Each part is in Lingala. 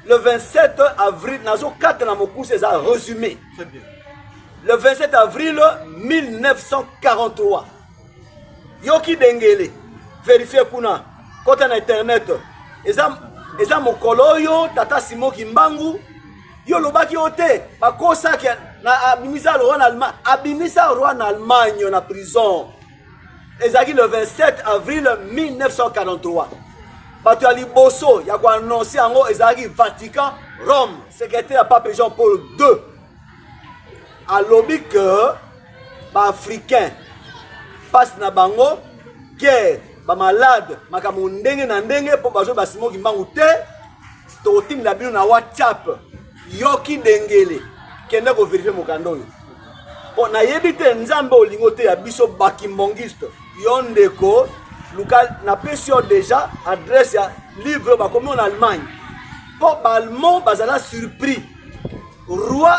le 27 avril nazokata na mokuse eza résumé le 27 avril 1943 yoki dengele verifie kuna kota na internet eza, eza mokolo oyo tata simo kimbangu yo olobaki yo te bakosaki abimisa roi na allemagne abimisa roi na allemagne na prison ezalaki le 27 avril 1943 bato ya liboso ya koannonse yango ezalaki vatican rome secrétaire ya pape jean paul ii alobi ke baafricain mpasi na bango guerre bamalade makambo ndenge na ndenge mpo bazwi basimo kimbangu te tokotindela bino na whatsapp yoki dengele kende ko verifie mokanda oyo mpo nayebi te nzambe olingi oteya biso bakimbongiste yo ndeko luka napesi yo deja adresse ya livre oyo bakomi yo na allemagne mpo baallemand bazala surpris roi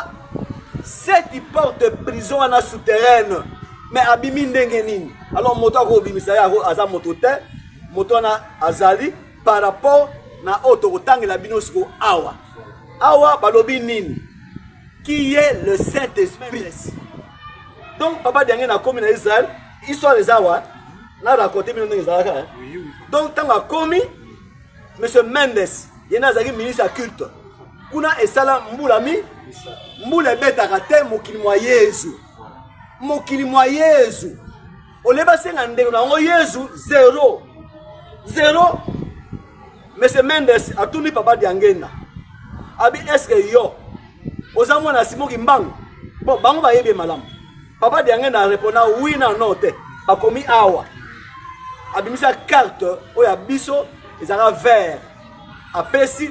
seti porte prison wana souterraine me abimi ndenge nini alors moto akobimisa ye aza moto te moto wana azali par rapport na oyo tokotangela bino siko awa awa balobi nini qui est le saint esprit donc papa diange nakomi na israel histoire eza wa na raconte bino ndenge ezalaka eh? donc ntango akomi monsieur mendes ye nde azalaki ministre ya culte kuna esala mbula mi mbula ebetaka te mokili mwa yezu mokili mwa yezu olie basenga ndeko na yango yezu zero zero Monsieur Mendes atuni papa Diangenda. Abi est-ce que yo oza mwana ya Simon Kimbangu? Bon, bango bayebi malamu. Papa Diangenda a répondu oui na non te. Bakomi awa. Abimisa carte oyo ya biso ezalaka vert. Apesi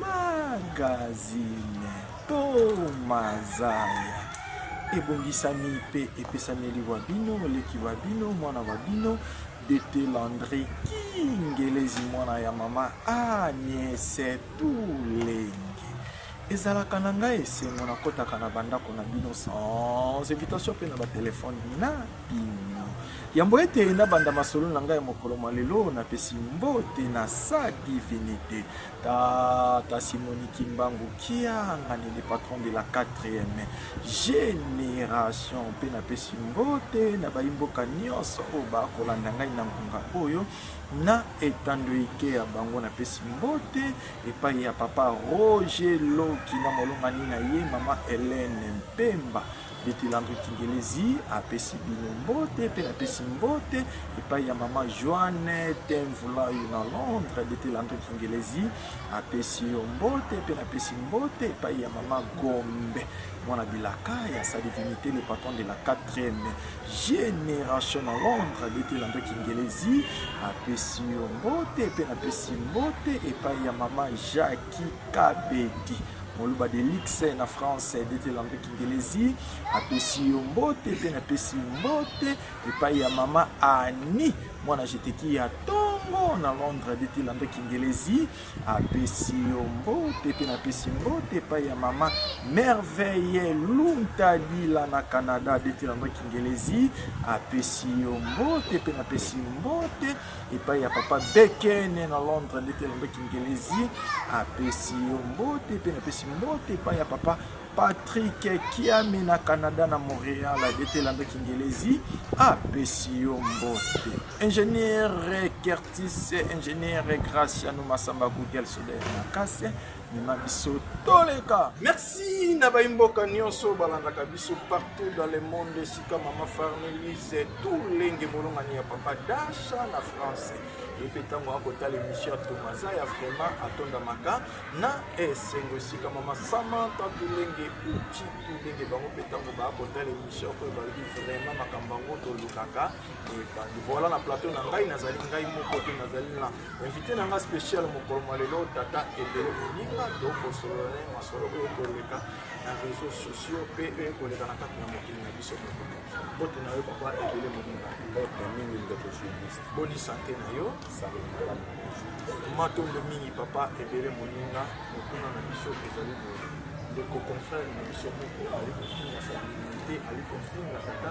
Magazine to mazaya ebongisami mpe epesami eliwa bino leki wa bino mwana wa bino dete landri kingelezi mwana ya mama aniese tulenge ezalaka na ngai esengo nakotaka na bandako na bino sans invitation mpe na batelefone na bino Yambo ete nabanda masolo na ngai mokolo mwa lelo, napesi mbote na sa divinite Tata Simoni Kimbangu Kiangani, le patron de la 4e generation, mpe napesi mbote na bayi mboka nyonso oyo bakolanda ngai na ngonga oyo na etando ike ya bango. Napesi mbote epai ya papa Roger Loki na molongani na ye mama Helene Mpemba Betelambe Kingelezi apesi bino mbote mpe napesi mbote epai ya mama Joanne Tenvulayi na Londres. Betelambe Kingelezi apesi yo mbote mpe napesi mbote epai ya mama Gombe mwana bilaka ya Sadivinite le patron de la 4e génération na Londres. Betelambe Kingelezi apesi yo mbote mpe napesi mbote epai ya mama Jacques Kikabedi moluba de luxe na france dete lampe kingelezi atosi yo mbote mpe napesi mbote epai ya mama ani mwana jeteki ya tongo na londres dete lampe kingelezi apesi yo mbote mpe napesi mbote epai ya mama merveille luntadila na canada dete lampe kingelezi apesi yo mbote mpe napesi mbote epai ya papa Bekene na Londres ndeti ya lombe kingelezi apesi yo mbote mpe napesi mbote epai ya papa Patrick Kiami na Canada na Montréal ndeti lando kingelezi apesi yo mbote ingénieur Curtis ingénieur Graciano Masamba Google Soder Makase mema biso toleka merci na baimboka nyonso balandaka biso partout dans le monde esika mama farnelise tolenge molongani ya papa dasha na france ye mpe ntango akotala émission ya tomaza ya vraiment atondamaka na esengo esika mama samanta tolenge uti tolenge bango mpe ntango baakotala émission oyo balobi vraiment makambo yango tolukaka ebandi voilà na plateau na ngai nazali ngai moko te nazali na invité na ngai spécial mokolo mwa lelo tata ebele moninga tokosolola na ye masolo oyo koleka na réseau sociaux mpe oyo koleka na kati na mokili na biso moko mbote na yo papa ebele moninga mbote mingi ndeko journaliste boni sante na yo matondo mingi papa ebele moninga motuna na biso ezali boye ndeko confrère na biso moko ali kofinga salinite ali kofinga tata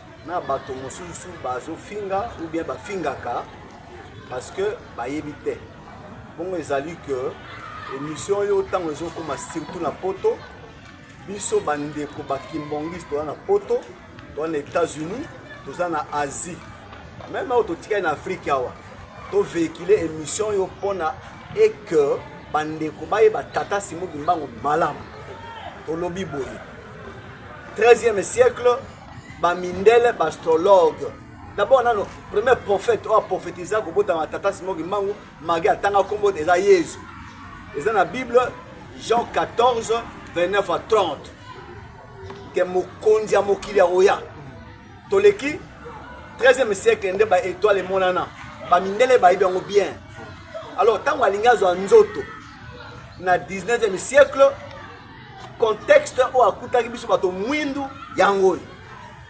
na bato mosusu bazofinga ou bien bafingaka parce que bayebi te bongo ezali que émission oyo ntango ezokoma surtout na poto biso bandeko bakimbongiste toza na poto toza na états-unis toza na asie meme oyo totikali na afrike awa tovéhicule émission oyo mpo na eke bandeko bayeba tata simo kimbangu malamu tolobi boye 13e siècle ba mindele ba astrologue d'abord nano premier prophète oyo aprophétisa kobotama tata simon kimbangu magi atanga nkombo eza yezu eza na bible jean 14 29 à 30 ke mokonzi ya mokili ya oya toleki 13e siècle nde baetoile emonana bamindele bayebi yango bien alors ntango alingi azwa nzoto na 19e siècle contexte oyo akutaki biso bato mwindu yango oyo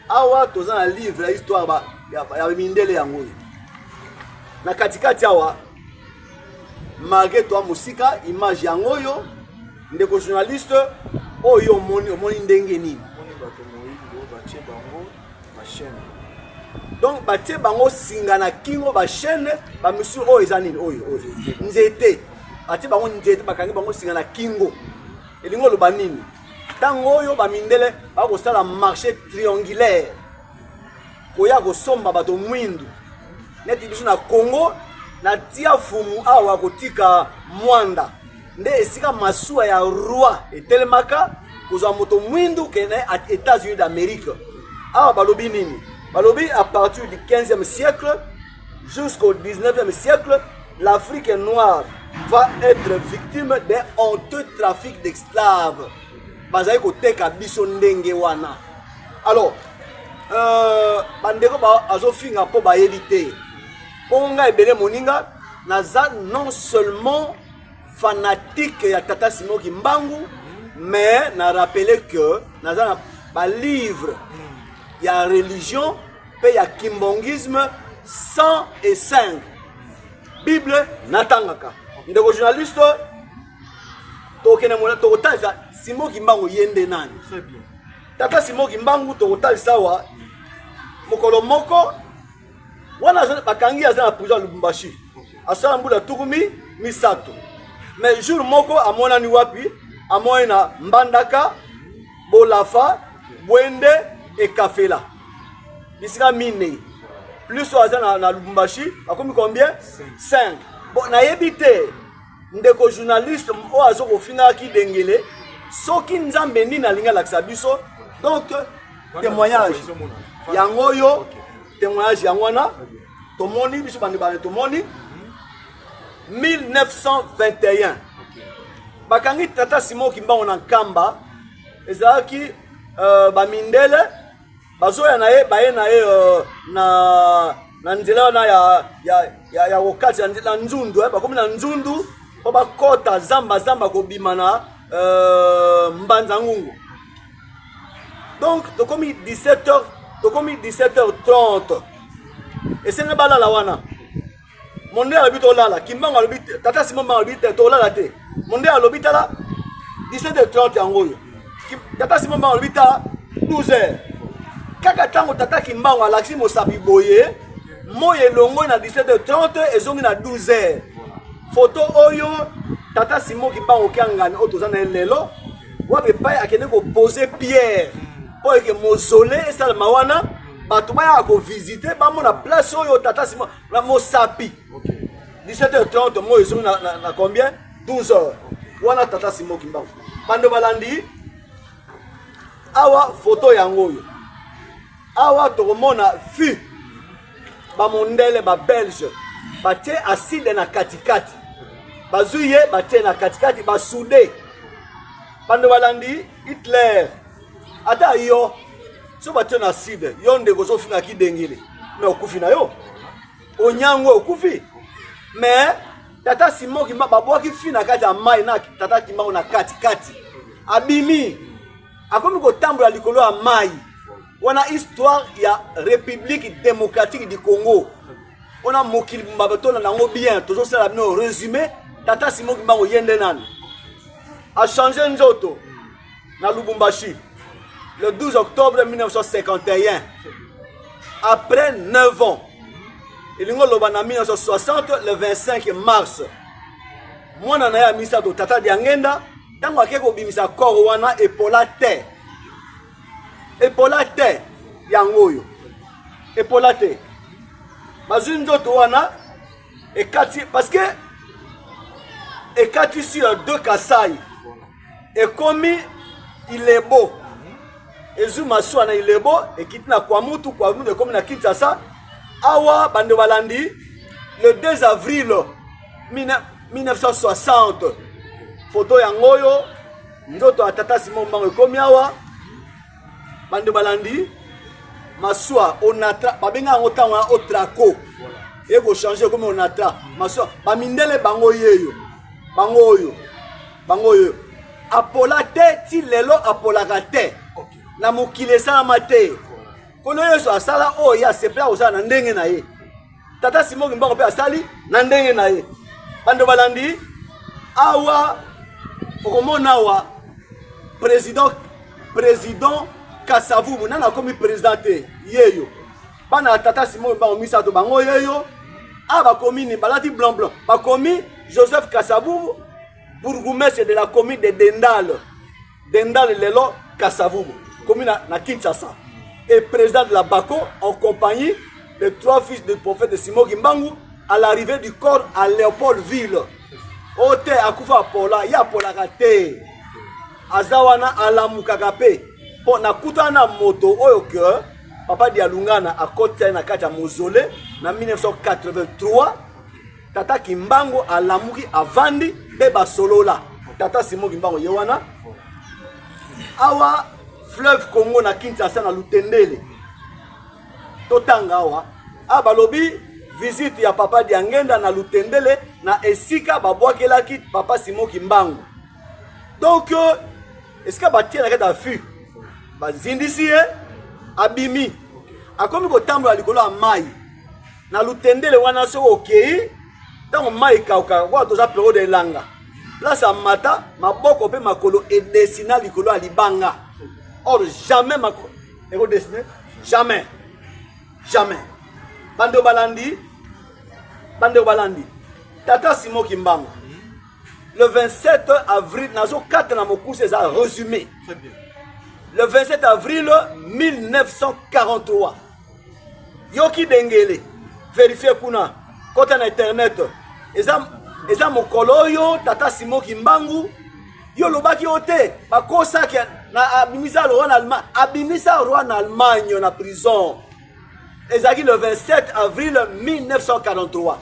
awa toza na livre ya histoire ya mindele yango oyo na katikati awa malgré toi mosika image yango oyo ndeko journaliste oyo omoni omoni ndenge nini machene donc batie bango singa na kingo bachene bamesure oyo eza nini oyo oyo nzete batie bango nzete bakangi bango singa na kingo elingi oloba nini ntango oyo bamindele bakosala marché triangulaire koya kosomba bato mwindu neti biso na congo na tia fumu awa kotika mwanda nde esika masuwa ya roi etelemaka kozwa moto mwindu kende na Etats-Unis d'Amerique. Awa balobi nini? Balobi à partir du 15e siècle jusqu'au 19e siècle, l'Afrique noire va être victime d'un honteux trafic d'esclaves. Bazali koteka biso ndenge wana. Alors, euh, bandeko bazofinga mpo bayebi te. Bongo ngai ebele moninga naza non seulement fanatique ya tata simo kimbangu mais na rappele que naza na balivre ya religion mpe ya kimbongisme 105 bible natangaka ndeko journaliste tokende mona tokotalisa simo kimbangu ye nde nani tata simo kimbangu tokotalisa awa mokolo moko wana bakangi aza na prison ya lubumbashi asala mbula tukumi misato mais jour moko amonani wapi amonani na mbandaka bolafa bwende ekafela bisika minei plus oyo aza na, na lubumbashi akomi combien 5 bon nayebi te ndeko journaliste oyo azo kofingaka kidengele soki nzambe nini alingi alakisa biso donc témoignage yango oyo témoignage yango wana tomoni biso bandi bandi tomoni 1921 bakangi tata simon kimbango na nkamba ezalaki euh, bamindele bazoya na ye baye na ye euh, na na nzela wana ya ya ya, ya kokati na nzundu eh, bakomi na nzundu mpo bakɔta zamba zamba kobima na euh, mbanza ngungu donc tokomi 17 heures tokomi 17 heures 30 esengi balala wana monde alobi tolala kimbango alobi tata simon mbango alobi te tolala te monde alobi tala 17h30 yango oyo tata simon mbango alobi tala 12h kaka ntango tata kimbango alakisi mosapi boye moi elongoi na 17h30 ezongi na 12h foto oyo tata simon kimbango kiangani oyo toza na ye lelo wapi epai akende kopose pierre mpo eke mosole esalama wana bato bayaka kovisite bamona place oyo tata simon na mosapi 17h30 moi ezongi na, na, na combien 12h okay. wana tata simo kimbangu bando balandi awa foto yango oyo awa tokomona vue bamondele babelge batie aside na katikati bazwi ye batie na katikati basude bando balandi hitler ata yo so batio na side yo ndeko ozofinga kidengele me okufi na yo onyango okufi me tata simo kimba babwaki fi na kati ya mai na tata kimbango na katikati abimi akomi kotambola likolo ya mai wana histoire ya république démocratique du congo wana mokili mba batona nango bien tozosala bino résumé tata simo kimbango ye nde nani achange nzoto na Lubumbashi le 12 octobre 1951 après 9 ans elingi oloba na 1960 le 25 mars mwana na ye ya misato tata diangenda ntango akei kobimisa kore wana epola te epola te yango oyo epola te bazwi nzoto wana ekati parce que ekati sur deux kasai ekomi ilebo ezwi masuwa na ilebo ekiti na kwamutu kwamutu ekomi na kinshasa awa bando balandi le 2 avril 1960 foto yango oyo nzoto ya tata simo mbango ekomi awa bando balandi masuwa onatra babenga yango ntango ya otraco ekochange ekomi onatra masuwa bamindele bango yeyo bango oyo bango oyo apola te ti lelo apolaka te na mokili esalama te nkolo yesu asala oyo ye asepela kosala na ndenge na ye tata simoki mbango mpe asali na ndenge na ye bando balandi awa okomona awa président président kasavubu nani akomi président te yeyo bana ya tata simon bango misato bango yeyo a ah, bakomi nini balati blanc blanc bakomi joseph kasavubu bourgoumestre de la commune de dendale dendale lelo kasavubu komi na, na kinshasa et président de la baco en compagnie de trois fils du prophète simon kimbangu à l'arrivée du corps à léopoldville o oh, te akufa apola ye apolaka te aza wana alamukaka mpe mpo nakutana na moto oyo ke papa dialungana akotisa ye na kati ya mozole na 1983 tata kimbango alamuki avandi mpe basolola tata simo kimbango ye wana awa fleuve congo na kinshasa na lutendele totanga awa a balobi visite ya papa diangenda na lutendele na esika babwakelaki papa simo kimbango donc esika batie na kati ya fil bazindisi ye abimi akomi kotambola likolo ya mai na lutendele wana soki okei ntango mai ekauka wana toza periode ya elanga place ya mata maboko mpe makolo edesina likolo ya libanga or jamais makolo ekodesine jamais jamais bando balandi bandeko balandi tata simo kimbangu le 27 avril nazo kata na mokuse eza résumé très bien le 27 avril 1943 yoki dengele verifie kuna kota na internet eza eza mokolo oyo tata simo kimbangu yo olobaki yo te bakosaki abimisa roi na allemagne abimisa roi na allemagne na prison ezalaki le 27 avril 1943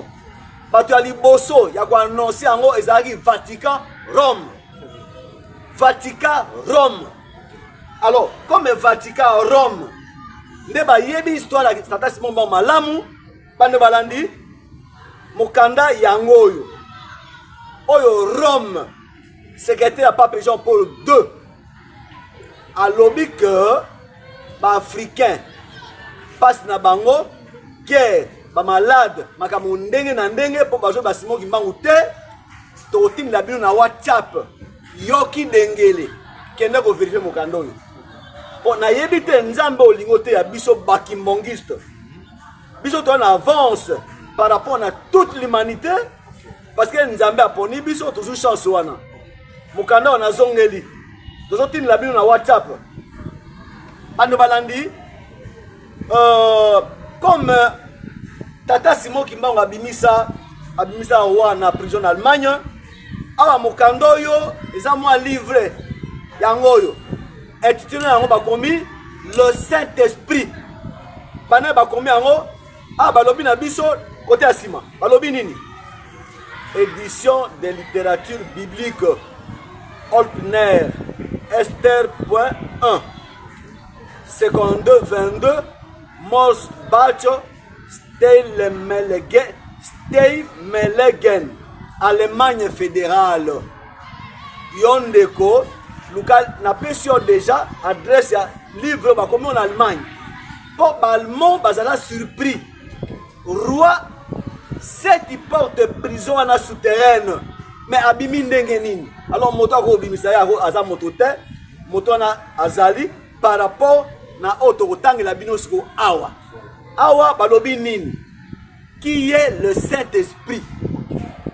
bato ya liboso ya koannonse yango ezalaki vatican rome vatican rome alors comme vatican rome nde bayebi histoire ya tata simon bango malamu bande balandi mokanda yango oyo oyo rome secrétaire ya pape jean paul 2 alobi ke baafricain mpasi na bango guerre bamalade makambo ndenge na ndenge mpo bazwi basimo kimbangu te tokotindela bino na whatsapp yoki dengele kende koverifie mokanda oyo mpo nayebi te nzambe olingi oteya biso bakimbongiste biso toza na avance par rapport na toute l'humanité parce que nzambe aponi biso tozwi chance wana mokanda wana azongeli tozotindela bino na whatsapp bando balandi euh, comme euh, tata simon kimbango abimisa abimisa wa na prison na allemagne awa mokanda oyo eza mwa livre yango oyo intitule yango bakomi le saint esprit bana bakomi yango Ah, balobi na biso kote ya nsima balobi nini? Edition de littérature biblique Olpner Esther 1 seconde 22 Mors Bacho Steinmelegen Steinmelegen Allemagne fédérale yo ndeko luka napesi yo déjà adresse ya livre bakomi na Allemagne po balmon bazala surpris roi seti porte prison wana souterraine mais abimi ndenge nini alors moto akobimisa ye aza moto te moto wana azali par rapport na oyo tokotangela bino siko awa awa balobi nini qui est le saint esprit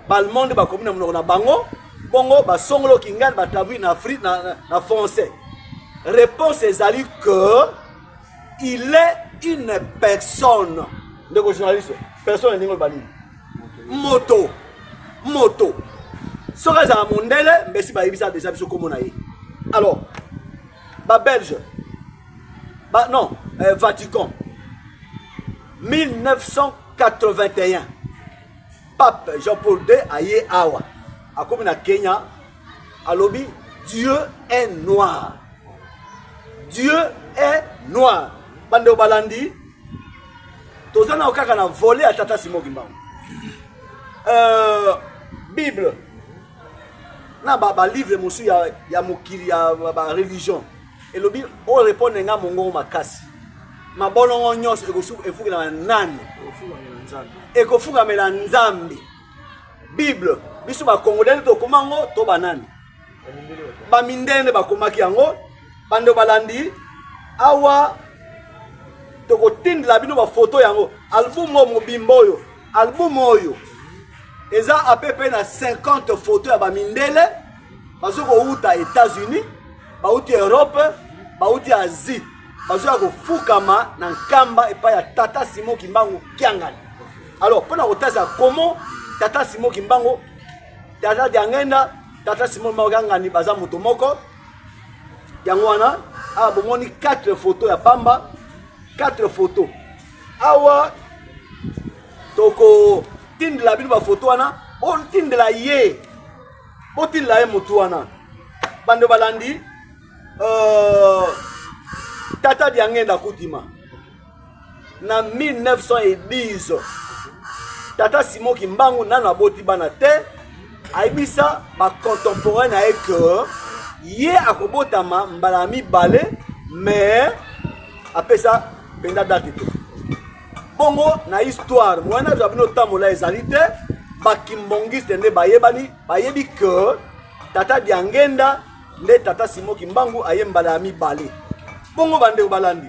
balmonde bakomi na monoko na bango bongo basongolo kingani batabli na, na, na français réponse ezali que il est une personne ndeko journaliste personne elingi oloba nini moto moto soki azala mondele mbesi bayebisa deja biso nkombo na ye alors babelge ba, non euh, vatican 1981 pape jean paul ii aye awa akomi na kenya alobi dieu est noir dieu est noir bandeko balandi toza nao kaka na vole ya tata simo kimbangu euh, bible na balivre ba mosusu ya, ya mokili ya bareligion elobi orepondre nga mongongo makasi mabolongo nyonso efukamela nani ekofukamela nzambe bible biso bakongole nde tokoma yango to banani bamindele nde bakomaki yango bando balandi awa tokotindela bino bafoto yango album oyo mobimba oyo album oyo eza apepe na 50 foto ya bamindele bazo kowuta états-unis bawuti europe bawuti asie bazoya kofukama na nkamba epai ya tata simon kimbangu kiangani alors mpo na kotasa comment tata simo kimbango tata diangenda tata simo kimbango kangani baza moto moko yango wana awa bomoni 4 photo ya pamba 4 photo awa tokotindela bino bafoto wana botindela ye botindela ye motu wana bando balandi uh, tata diangenda kudima na 1910 tata simon kimbangu nano aboti bana te ayebisa bacontemporain na ye ke ye akobotama mbala ya mibale mais apesa mpenza date te bongo na histoire moyen age ya bino otambola ezali te bakimbongiste nde bayebani bayebi ke tata diangenda nde tata simo kimbangu aye mbala ya mibale bongo bandeko balandi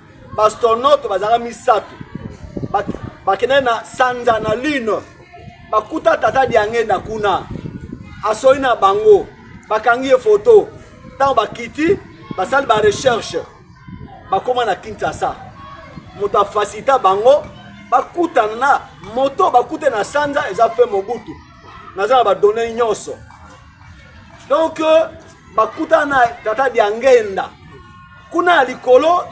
baastronaute bazalaka misato bakendaki na sanza na lune bakuta tata diangenda kuna asoli na bango bakangi ye foto ntango bakiti basali barecherche bakóma na kinshasa moto afasita bango bakutana na moto bakute na sanza eza mpe mobutu naza na badone nyonso donk bakutana na tata diangenda kuna ya likolo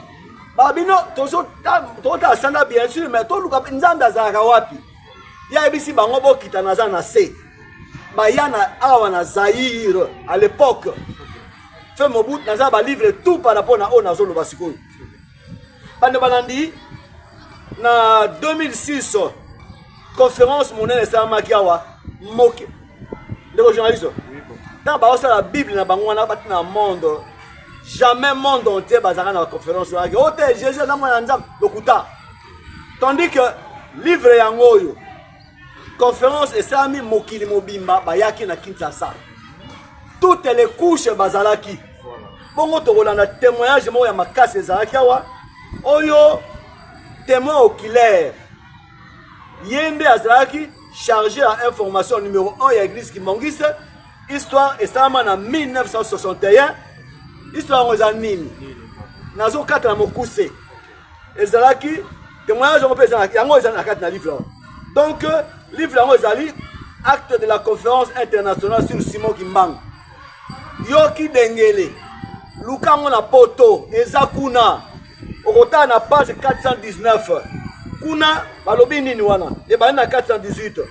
babino tozotala sanda bien sûr mais toluka mpe nzambe azalaka wapi ye ayebisi bango bokita naza na se baya na awa na zaire à l'époque fe mobutu naza balivre tout par rapport na oyo nazoloba sikoyo bande balandi na 2006 conférence monene esalamaki awa moke ndeko journaliste ntango baosala bible na bango wana bati na monde jamais monde entier bazalaka na baconférence wana o te jésus aza mwana ya nzambe lokuta tandis que livre yango oyo conférence esalami mokili mobimba bayaki na kinshasa toutes les couches bazalaki bongo tokolanda témoignage moko ya makasi ezalaki awa oyo témoin oculaire ye nde azalaki chargé ya information numéro 1 ya église kimongise histoire esalama na 1961 histoire yango eza nini nazokata na mokuse ezalaki témoignage yango mpe yango ezali na kati na livre yango donc livre yango ezali acte de la conférence internationale sur simon kimbangu yo kidengele luka yango na poto eza kuna okotala na page 419 kuna balobi nini wana ebandi na 418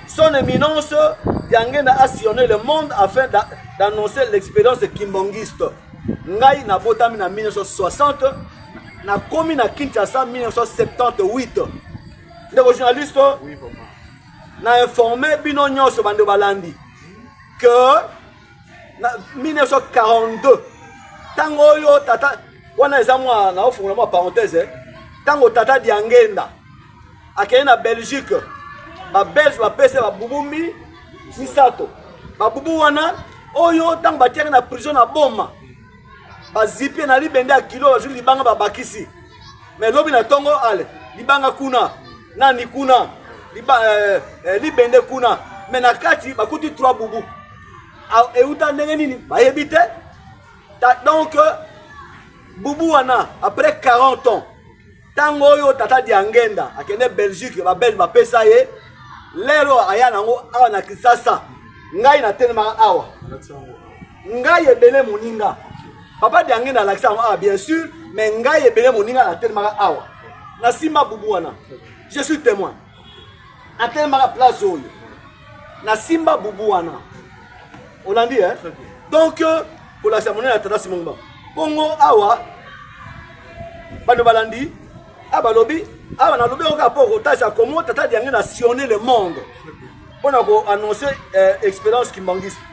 son éminence yangenda a sillonné le monde afin d'annoncer l'expérience kimbangiste ngai nabotami na 1960 nakomi na kinshasa 1978 ndeko journaliste na informe bino nyonso bande balandi que na 1942 ntango oyo tata wana eza mwa naofungola mwa parenthèse eh. ntango tata diangenda akei na belgique babelge bapese babubumi misato babubu wana oyo ntango batiaki na prison na boma bazipie na libende ya kilo bazwi libanga babakisi me lobi na ntongo ale libanga kuna nani kuna liba, eh, eh, libende kuna me na kati bakuti trois bubu euta ndenge nini bayebi te donc bubu wana après 40 ans ntango oyo tata diangenda akende belgique babelge bapesa ye lelo aya nango awa na kisasa ngai natelemaka awa ngai ebele moninga papa diange na alakisa yango awa bien sûr mais ngai ebele moninga natelemaka awa nasimba bubu wana je suis témoin natelemaka place oyo nasimba bubu wana olandi eh? donc euh, kolakisa monene ya tata simongba bongo awa bano balandi a balobi awa nalobi yango kaka mpo okotalisa komo tata diange na sionne le monde mpo na koannonce euh, expérience kimbangiste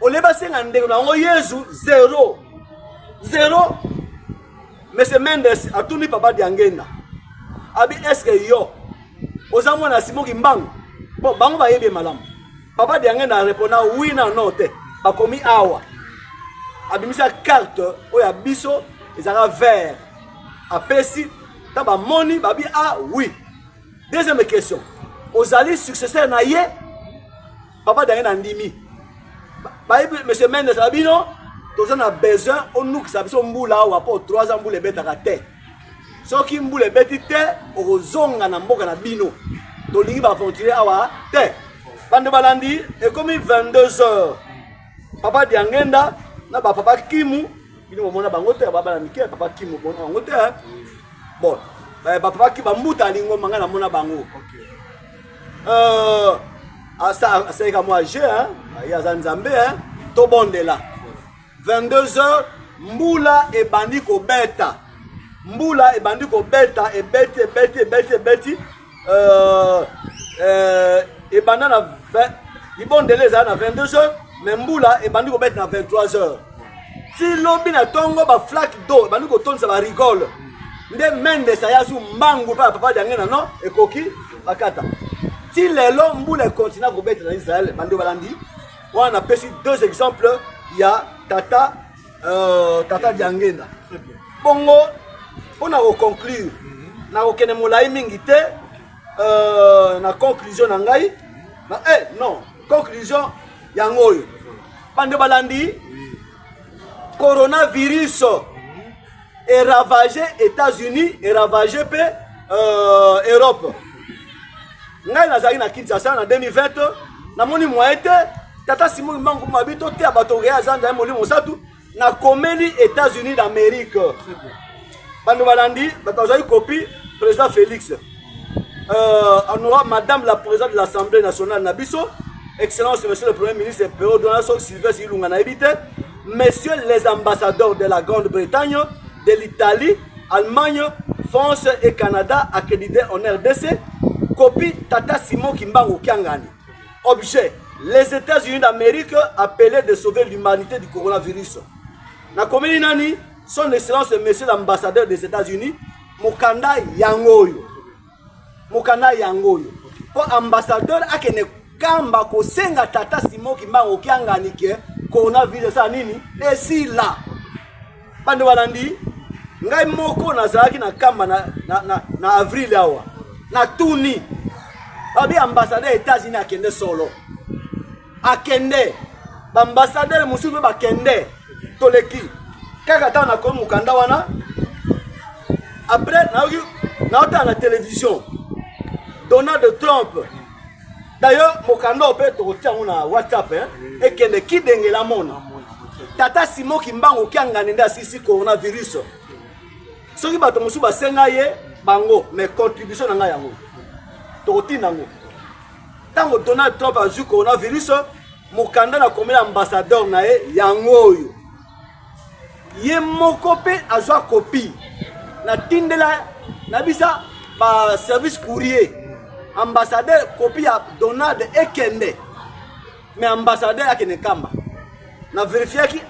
olie basenga ndeko na yango yezu zero zero monsieur mendes atuni papa diangenda abi eske yo oza mwana ya simoki mbangu mpo bango bayebi ye malamu papa diangenda arepona wi na no te bakomi awa abimisa karte oyo ya biso ezalaka vert apesi ntango bamoni babi a ah, wi deuxième question ozali successeur na ye papa dange na ndimi bayebi monsieur mendes na bino toza na besoin onukisa biso mbula awa mpo 3 ans mbula ebetaka te soki mbula ebeti te okozonga na mboka na bino tolingi baaventurier awa te bande balandi ekomi 22 heures papa diangenda na bapapa kimu bino bomona bango te babana mike papa kimu bomona bango te bon bapapa ki bambuta alingoma ngai namona bango okay. euh, asalaka mwa jeu ye aza nzambe tobondela 22 heures mbula ebandi kobeta mbula ebandi kobeta ebeti ebeti ebeti ebeti euh, euh, ebanda na libondela ezala na 22 heures mais mbula ebandi kobeta na 23 heures ti lobi na tongo ba flaque d'eau bandi kotondisa ba rigole nde mendes aya azwi mbangu mpe bapapa lyange na no ekoki bakata ti lelo mbula ekontina kobeta na israel bandi balandi wana napesi deux exemples ya tata euh, tata diangenda bongo mpo na koconclure nakokende molai mingi te euh, na conclusion na ngai na, eh, non conclusion yango oyo bande balandi coronavirus eravage états-unis eravage mpe euh, europe ngai nazalaki na kinshasa na 2020 namoni moye te tata simo kimbangu mabi toteya bato okeya azanza ye molimo mosatu nakomeli états-unis d'amérique bando balandi bazwaki kopi président félix euh, en aura madame la présidente de l'assemblée nationale na biso excellence monsieur le premier ministre pero donaso sylvestre ilunga nayebi te messieurs les ambassadeurs de la grande bretagne de l'italie allemagne france et canada accrédité en rdc copie tata simon kimbangu kiangani objet les états-unis d'amérique appelé de sauver l'humanité du coronavirus nakomeli nani Son Excellence Monsieur l'ambassadeur des États-Unis, mokanda yango oyo. Mokanda yango oyo. Mpo ambassadeur akende kamba kosenga tata Simon Kimbangu Kiangani ke coronavirus esala nini? Esila. Bande balandi ngai moko nazalaki na kamba na, na, na, na avril awa natuni babi ambassadeur ya États-Unis akende solo akende baambasadere mosusu mpe bakende toleki kaka ntango nakomi mokanda wana après nayoki naotala na télévision donald trump d'ailleurs mokanda oyo mpe tokotia yango na whatsapp ekende kidengela mona tata simo kimbangu kiangani nde asisi coronavirus soki bato mosusu basenga ye bango mais contribution na ngai yango tokotinda yango ntango donald trump azwi coronavirus mokanda na komela ambassadeur na ye yango oyo ye moko mpe azwa kopi natindela na bisa baservice courrier ambassadeur kopi ya donald ekende me ambassadeur akende kamba na verifiaki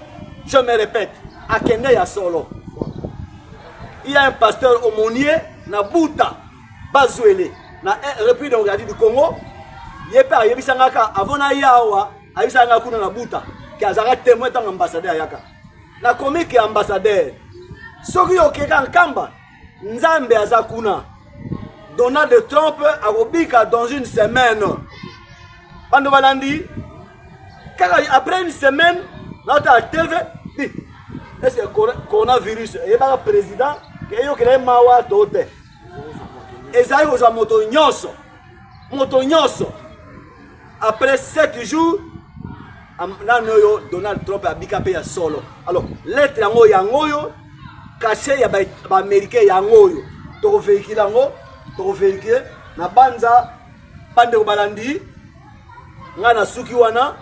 je me répète akende ya solo il y a un pasteur aumônier na buta bazuele na eh, repris de regardi du congo ye mpe ayebisa nga ka avant naya awa ayebisa nga kuna na buta ke azalaka témoin ntango ambassadeur ayaka na komike ya ambassadeur soki okeka nkamba nzambe aza kuna donald trump akobika dans une semaine bando balandi kaka après une semaine naotala tv est ce que coronavirus eyebaka président eyokela ye mawa to te ezali kozwa moto nyonso moto nyonso après 7 jours nano oyo donald trump abika mpe ya solo alors lettre yango yango oyo kashe ya baaméricain yango oyo tokoveikile yango tokoveikile na banza bandeko balandi ngai nasuki wana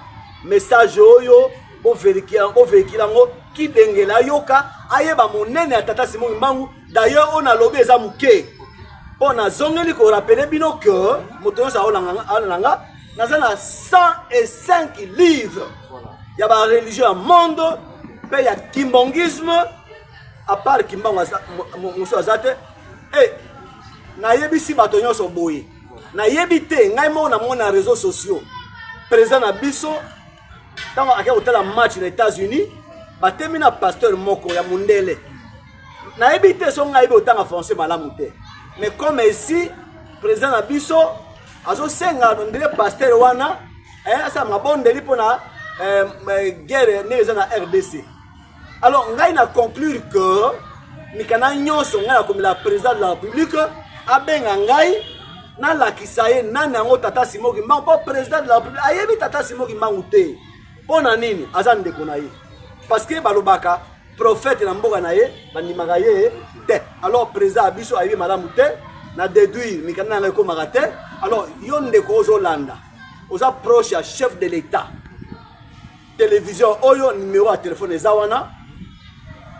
message oyo boveikile yango kidengela ayoka ayeba monene ya tata simon kimbangu D'ailleurs on a lobby eza muke. Bon nazongeli ko rappeler bino que moto nyonso aolanga nga naza na 105 livres ya ba religion ya monde mpe ya kimbongisme à part kimbango mosusu aza te e eh, nayebisi bato nyonso boye nayebi te ngai moko namona na réseau sociaux président na biso ntango akei kotala match na états-unis batemi na pasteur moko ya mondele nayebi te so ngai botanga français malamu te mais comme esi président na biso azosenga ndele pasteur wana eh, asala mabondeli mpo na eh, eh, guerre ndenge eza na rdc alors ngai na conclure que mikanda nyonso ngai nakomela président de la république abenga ngai nalakisa ye nani yango tata simo kimbangu mpo président de la république ayebi tata simo kimbangu te mpo na nini aza ndeko na ye parce que balobaka prophète na mboka na ye bandimaka ye te alors président ya biso ayebi malamu te na déduire mikanda na yango ekomaka te alors yo ndeko ozolanda oza proche ya chef de l'état television oyo numero ya telefone eza wana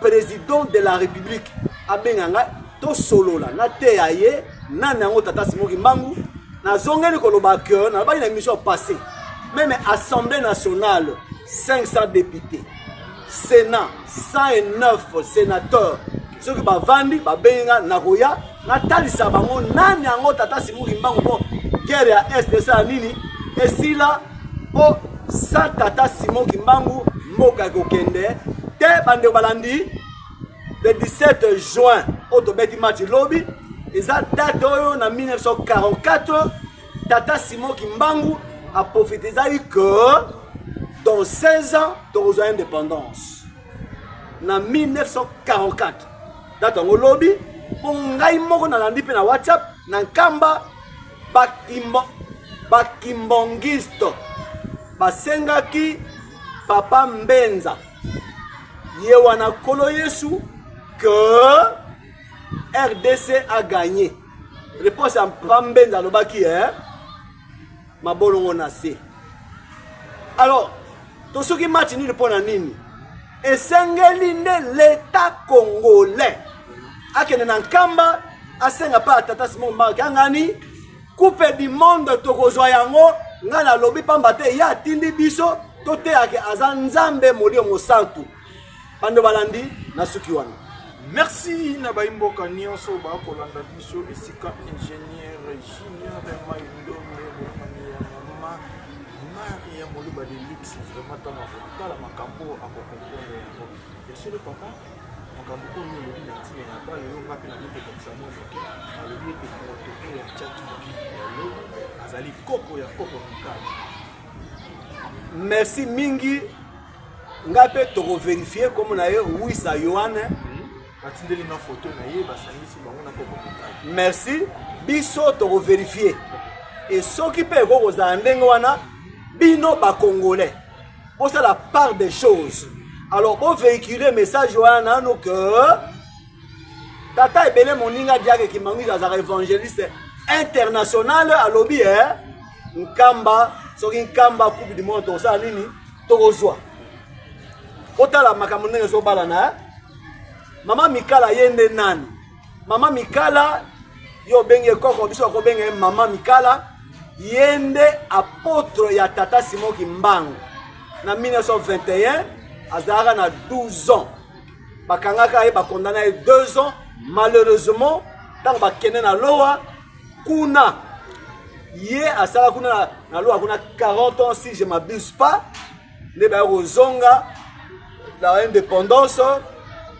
président de la république abenga ngai tosolola nateya ye nani yango tata simo kimbangu nazongeli koloba ke nalobaki na émission passé meme assemblée nationale 500 députés sénat 109 sénateur soki bavandi babengi ngai nakoya natalisa bango nani yango tata simu kimbangu mpo guerre ya est esala nini esila mpo sa tata simon kimbangu mboka ekokende te bandeko balandi le 17 juin oyo tobeti match lobi eza date oyo na 1944 tata simon kimbangu aprofitizaki que dans 16 ans tokozwa indépendance na 1944 date yango lobi mpo ngai moko nalandi mpe na whatsapp na nkamba bakimbo bakimbongiste basengaki papa mbenza ye wana nkolo yesu que rdc a gagné réponse ya papa mbenza alobaki eh? mabolongo na se alors tosuki match nini mpo na nini esengeli nde leta congolais akende na nkamba asenga mpa tata simon mark angani coupe du monde tokozwa yango ngai nalobi mpamba te ye atindi biso toteyake aza nzambe molio mosantu bando balandi na suki wana merci na baimboka nyonso bakolanda biso esika ingénieur junior maindome bomani ya mama mari ya moluba de luxe vraiment ntango akotala makambo akokomprendre yango esolo papa makambo oyo olobi na ntina ya bale yo ngape na mikokokisa mwa moke alobi ete protokole ya chaki ya lobi azali koko ya koko mikali merci mingi nga pe toko verifier comme na ye wisa yohane batindeli nga foto na ye basangisi bango na koko merci biso toko verifier e soki mpe ekoki kozala ndenge wana bino bacongolais bosala part des choses alors bovéhicule message wana nano ke tata ebele moninga diake kimangwili azalaka évangéliste international alobi e eh? nkamba soki nkamba coupe du monde tokosala nini tokozwa otala makambo ndenge ezobala na eh? mama mikala ye nde nani mama mikala yo obengi ye koko biso akobenga ye mama mikala ye nde apotre ya tata simon kimbangu na 1921 azalaka na 12 ans bakangaka ye bakondana ye 2 ans malheureusement ntango bakende na lowa kuna ye asala kuna na loka kuna 40 ans si je m'abuse pas nde baye kozonga na indépendance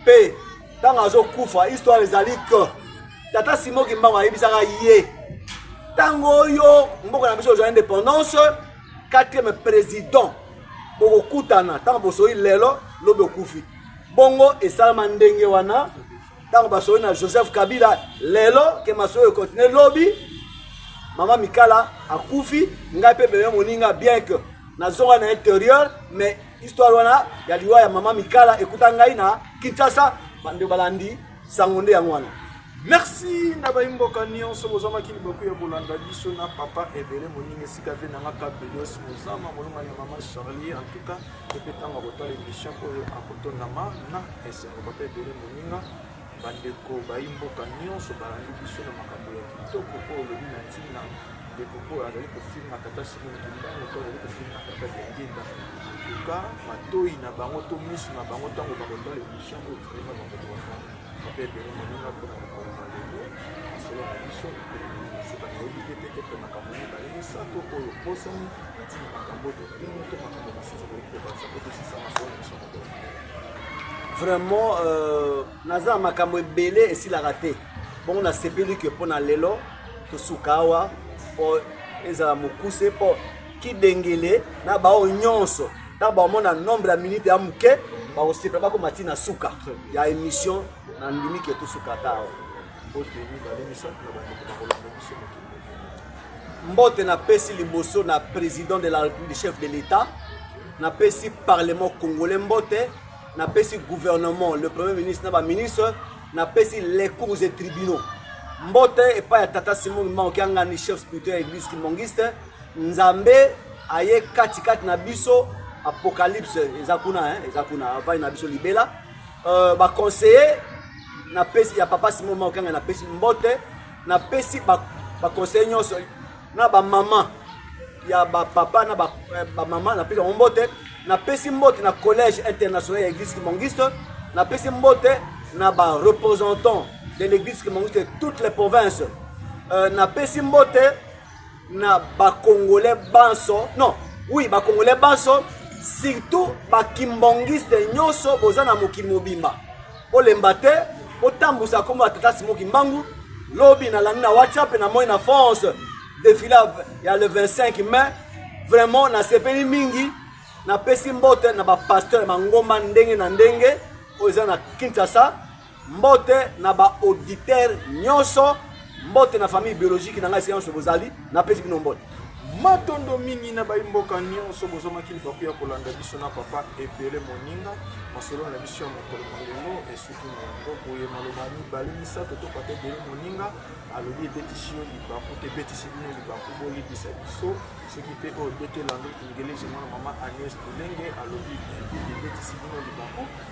mpe ntango azokufa histoire ezali que tata simo kimbango ayebisaka ye ntango oyo mboka na biso ozwa indépendance quatrième président bokokutana ntango bosoyi lelo lobi okufi bongo esalama ndenge wana ntango basoyi na joseph kabila lelo ke masoyi ekontinue lobi mama mikala akufi ngai mpe bebe moninga bien que nazonga na interieur mais histoire wana ya liwa ya mama mikala ekuta ngai na kinshasa bande balandi sango nde yango wana merci na baimboka nyonso bozwamaki libaku ya kolanda biso na papa ebele moninga esika ve nanga kabelos mozama molongani ya mama charlie en tout cas ye mpe ntango akotala emission oyo akotonama na esengo papa ebele moninga bandeko bayi mboka nyonso balandi biso na makambo ya kitoko oyo olobi na ntina ndeko oyo azali kofinga tata simon kimbangu to azali kofinga tata diangenda tuka matoi na bango to miso na bango ntango bakotala emission oyo vraimen bakokoka papa ebele moninga mpona mokolo na lelo masolo na biso ekolobi mosuka nayebi te te te mpe makambo mibale misato oyo bosani vraiment euh, naza na makambo ebele esilaka te bongo nasepeli ke mpo na lelo tosuka awa mpo ezala mokuse mpo kidengele na baoyo nyonso ntango bakomona nombre ya minute ya moke bakosepela bakoma ntina suka ya émission nandimi ke tosuka ata awa mbote napesi liboso na président de la république chef de l'état napesi parlement congolais mbote napesi gouvernement le premier ministre na baministre napesi les cours et tribunaux mbote epai ya tata simon kimbangu kiangani chef spirituel ya église kimbangiste nzambe aye katikati na biso apocalypse eza kuna eza kuna avai na biso libela euh, ba conseiller na pesi ya papa Simon Maokanga na pesi mbote na pesi ba ba conseiller nyonso na ba maman ya ba papa na ba, eh, ba maman na pesi mbote na pesi mbote na collège international ya église kimongiste na pesi mbote na ba représentants de l'église kimongiste toutes les provinces euh, na pesi mbote na ba congolais banso non oui ba congolais banso surtout ba kimbongiste nyonso boza na mokili mobimba olemba te otambusa kombo ya tata simo kimbangu lobi nalandi na whatsapp na moi na france defile ya le 25 mai vraiment nasepeli mingi napesi mbote na bapasteur ya mangomba ndenge na ndenge oyo eza na kinshasa Mbote na ba auditeur nyoso, mbote na famille biologique na ngai esika nyoso bozali, napesi bino mbote. Matondo mingi na bayi mboka nyoso bozomaki libaku ya kolanda biso na papa ebele moninga. Masolo na biso ya mokolo mwa lelo esuki na yango boye maloba mibale misato to papa ebele moninga alobi ebetisi yo libaku te ebetisi bino libaku boyebisa biso soki mpe oyo bete lando ingelesi mwana mama agnes tulenge alobi ebetisi bino libaku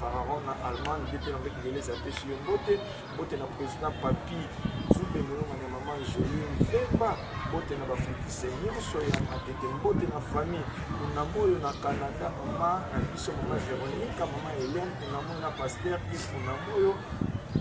Fararon na Allemagne mpe mpe na mpe Kingeleza apesi yo mbote mbote na président Papi Zumbe Mulonga na mama Jolie Mvemba mbote na bafritise nyonso ya matete mbote na famille kunamoyo na Canada mama na biso mama Veronica mama Hélène kunamoyo na pasteur Yves kunamoyo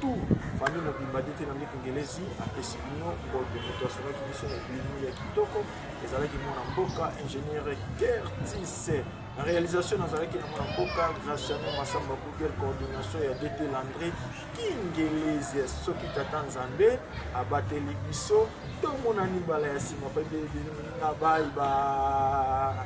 tout famille mobimba nde te na miki ngelesi apesi bino mbote moto asolaki biso na bilimo ya kitoko ezalaki mwana mboka ingénieur kertis Na realisation nazalaki na mwana mboka Graciano Massamba Google coordination ya DT Landry Kingelezi soki tata Nzambe abateli biso tomonani mbala ya nsima mpe na bayi ba